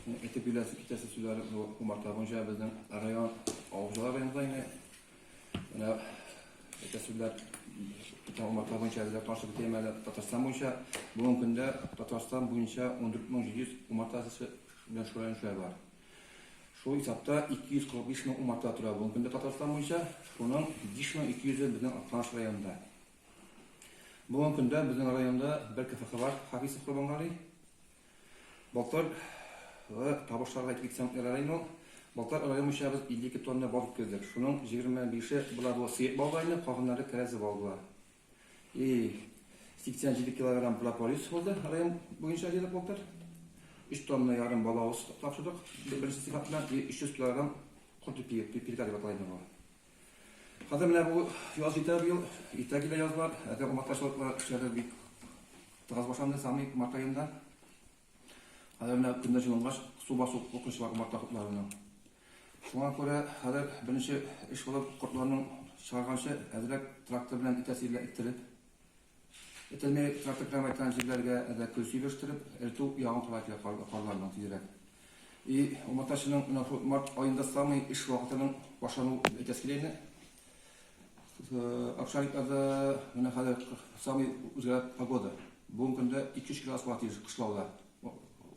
Әйтеп бирәсе китәсе сүзләр кумарта буенча безнең район авылчылар районында инде. Менә әйтә сүзләр кумарта буенча безгә каршы бетәм әле Татарстан буенча. Бүгенге көндә Татарстан буенча 14700 кумарта төсе белән шөгыльләнүче бар. Шул исәптә 245 мең кумарта тора бүгенге көндә Татарстан буенча, шуның 5200-е безнең Актаныш районында. Бүгенге көндә безнең районда бер КФХ бар, Хафизов Курбангали. Былтыр табышларга килсәм, район Балтар район буенча без 52 тонна бал китердек. Шуның 25-е була бу сыек балга инде, калганнары тәрәзә бал була. И 87 килограмм прополис булды район буенча дилек былтыр. 3 тонна ярым балавыз тапшырдык. Беренче сыйфатына 300 килограмм кортепия, пирка дип аталган бу. Хәзер менә бу яз җитә быел, иртә килә яз бар, әзер умартачылыклар эшләре бик тыгыз башланды самый март аенда. Хәзер менә көннәр җылынгач, су басу куркынычы бар умарта кортларының. Шуңа күрә хәзер беренче эш булып кортларның чыгарганчы әзрәк трактор белән итәсе җиргә иттереп, Этелмәгән трафик гамәл иткән җирләргә дә көл сөйләштереп, эретү ягын карар кирәк Ярларның тизрәк и умартачының менә шул март аенда самый эш вакытының башлануы дип әйтәсе килә инде Обшарикларда менә хәзер самый үзгәрә погода Бүгенге көндә 2-3 градус була тиеш кышлауда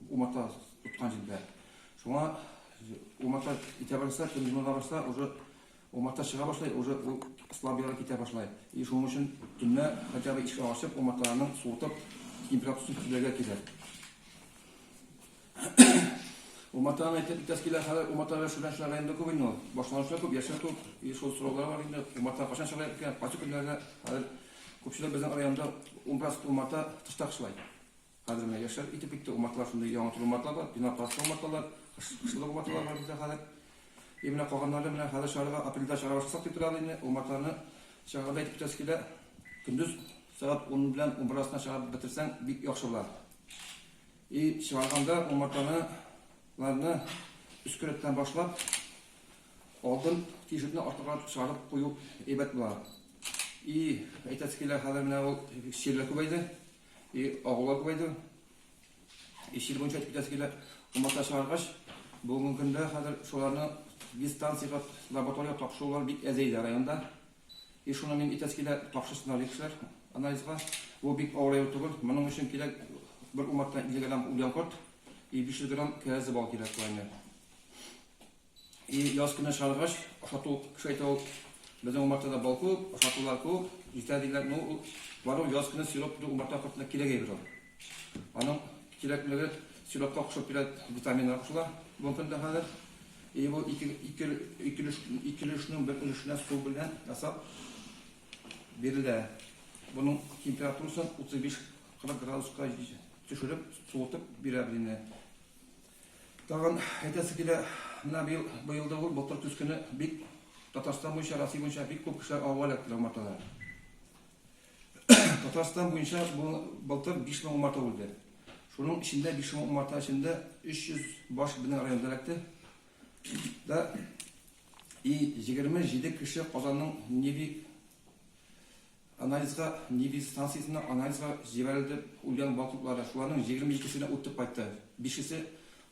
умарта тоткан җирдә Шуңа умарта итә барса, төньгүлгә барса уже Умарта чыга башлый, уже ул слаб ярга китә башлай. И шуның өчен төнлә хотя бы ишек ачып, умарталарның суытып, температурасын төзергә кирәк. Умартаны әйтеп битәс килә, хәзер умарталар шудан чыгарга инде күп инде ул. Башланучылар күп, яшьләр күп, и шул сораулар бар инде. Умарта качан чыгарга икән, кайсы көннәрдә? Хәзер күпчелек безнең районда унбер астын умарта тышта кышлай. Хәзер менә яшьләр итеп китте, умарталар шундый яңа төр умарталар, пенопласт умарталар, кышлык умарталар бар бездә хәзер. И менә калганнары менә хәзер чыгарырга, апрельдә чыгара башласак дип торабыз инде. Умартаны чыгарырга итеп торасы килә. Көндез сәгать ун белән унбер арасында чыгарып бетерсәң, бик яхшы була. И чыгарганда умартаны ларны өске рәттән башлап, алдын тишекне артыграк чыгарып кую әйбәт була. И әйтәсе килә, хәзер менә ул чирләр күбәйде. И агула күбәйде. Иш ел буенча әйтеп китәсе килә. Умарта чыгаргач, бүгенге көндә хәзер шуларны дистанциягә лаборатория тапшырулар бик әзәйде районда. И шуны мин әйтәсе килә, тапшырсыннар ди кешеләр анализга. Бу бик авыр авыру түгел. Моның өчен кирәк бер умарта 50 грамм үлгән корт и 500 грамм кәрәзле бал кирәк, куәне. И яз көне чыгаргач, ашату кеше әйтә ул, безнең умартада бал күп, ашатулар күп, җитә диләр. Ну, ул бару яз көне сироп бу умарта кортына кирәк әйбер ул. Аның кирәклеге сиропка кушып бирә, витаминнар кушыла бүгенге көндә хәзер. И бу ике ике ике ике өлешнең бер өлешенә су белән ясап бирелә. Буның температурасын 35-40 градуска төшереп, суытып бирә белине. Тагын әйтәсе килә, менә быел, быел да ул Былтыр көз көне бик Татарстан буенча, Россия буенча бик күп кешеләр авга эләктеләр умартада. Татарстан буенча бу былтыр 5000 умарта үлде. Шуның эчендә 5000 умарта эчендә 300 баш безнең районда эләкте. Да и 27 кеше Казанның Неви Анализга Нивис станциясенә анализга җибәрелде, үлгән бал туплары, шуларның егерме икесенә үтеп кайтты, бишесе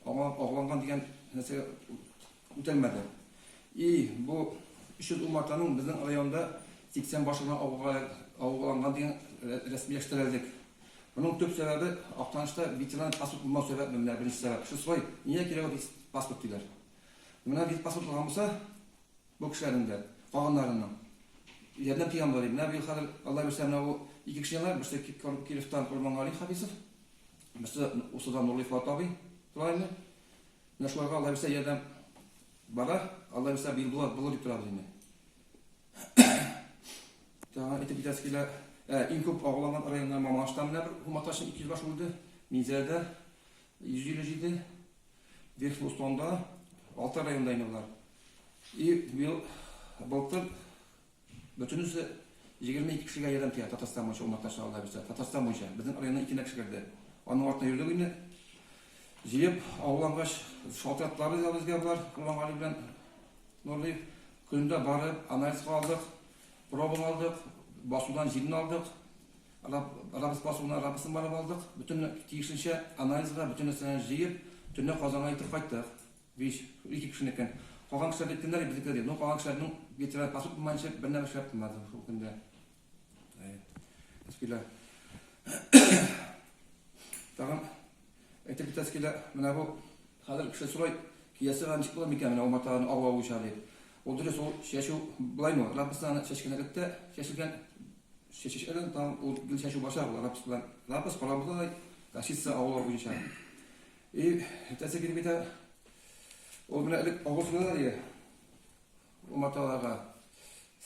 аңа агуланган дигән нәрсәгә үтәлмәде. И, бу өч йөз умартаның безнең районда сиксән башы гына агуланган дигән рәсмиләштерәлдек. Моның төп сәбәбе, Актанышта ветеринар паспорт булмау сәбәп, менә беренче сәбәп. Шестой, нигә кирәк ул ветпаспорт, диләр. Менә ветпаспорт булган булса, Бу кешеләрнең дә, калганнарының ярдәм тиңе бар иде. Менә быел хәзер, Алла бирсә, менә бу ике кешене алайык, берсе Кировтан Кормангали Хәбисов, берсе Усыдан Нурлый Фоат абый тора инде. Менә шуларга, Алла бирсә, ярдәм барар, Алла бирсә, быел булыр, булыр дип торабыз инде. Тагын әйтеп китәсе килә, ә, иң күп агуланган районнар Мамаштан менә бер Хуматашин 200 баш үлде, Минзәләдә 157 Верхлустонда, алты районда инде болар. И бил былтыр бөтенесе 22 кешегә ярдәм тия Татарстан буенча умарта чыгарда бирсә. Татарстан буенча безнең районда ике кеше керде. Аның артына йөрдек инде. Җыеп авылангач шалтыратлары да безгә бар. Куллангали белән Нурлыев көнендә барып анализга алдык, пробаны алдык, басудан җилне алдык. Раб, Раббс басуына Раббсын барып алдык, бөтен тиешенчә анализга бөтен нәрсәне җыеп, төнлә Казанга илтеп кайттык. Биш, ике кешенекен. Калган кешеләр дип кемнәр ди, безнекеләр ди. Ну, калган кешеләрнең ветеран паспорт булмаенча бер нәрсә эшләп булмады шул көндә. Әй, Әскилә. Тагын әйтеп китә Әскилә, менә бу хәзер кеше сорай, киясе гә ничек була микән менә умартаның авы авуча дип. Ул дөрес, ул чәчү былаймы, Раббысны аны чәчкән рәттә чәчелгән Чәчәкләрдән тагын ул гел чәчү башлар була, лапас белән. Лапас карабызда да кашица авылы буенча. И, әтәсе килеп китә. Ул менә элек авыл сынына дия. Уматаларга.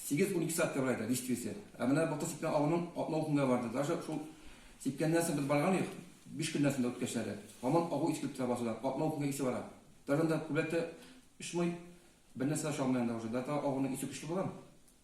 8-12 сәгать тә барайда дистрисе. Ә менә бакта сипкән авының атна утында барды. Даже шул сипкәннән соң без барган идек. 5 көннән соң да үткәчләре. Һаман агу искеп тора басуда. Атна утында исе бара. Даже анда күбрәк тә очмый. Бернәрсә дә чалмый анда уже. Дата агуның исе көчле булган.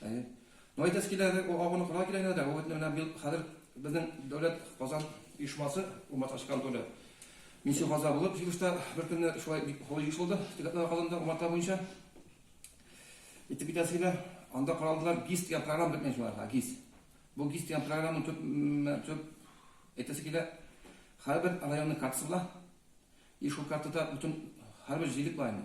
Әйе. Ну, әйтәсе килә, ул агуны кына килә генә дә, ул менә бил хәзер безнең дәүләт Казан оешмасы, Умат Ашкан Толя. Мин Сюхаза булып, җыелышта бер көнне шулай бик холый еш булды, Тегәтләр Казанда Умарта буенча. Итеп китәсе килә, анда каралдылар ГИС дигән программа бетмәй шулар, ГИС. Бу ГИС дигән программаның төп, төп әйтәсе килә, һәрбер районның картасы була, и шул картада бөтен һәрбер җирлек бар инде.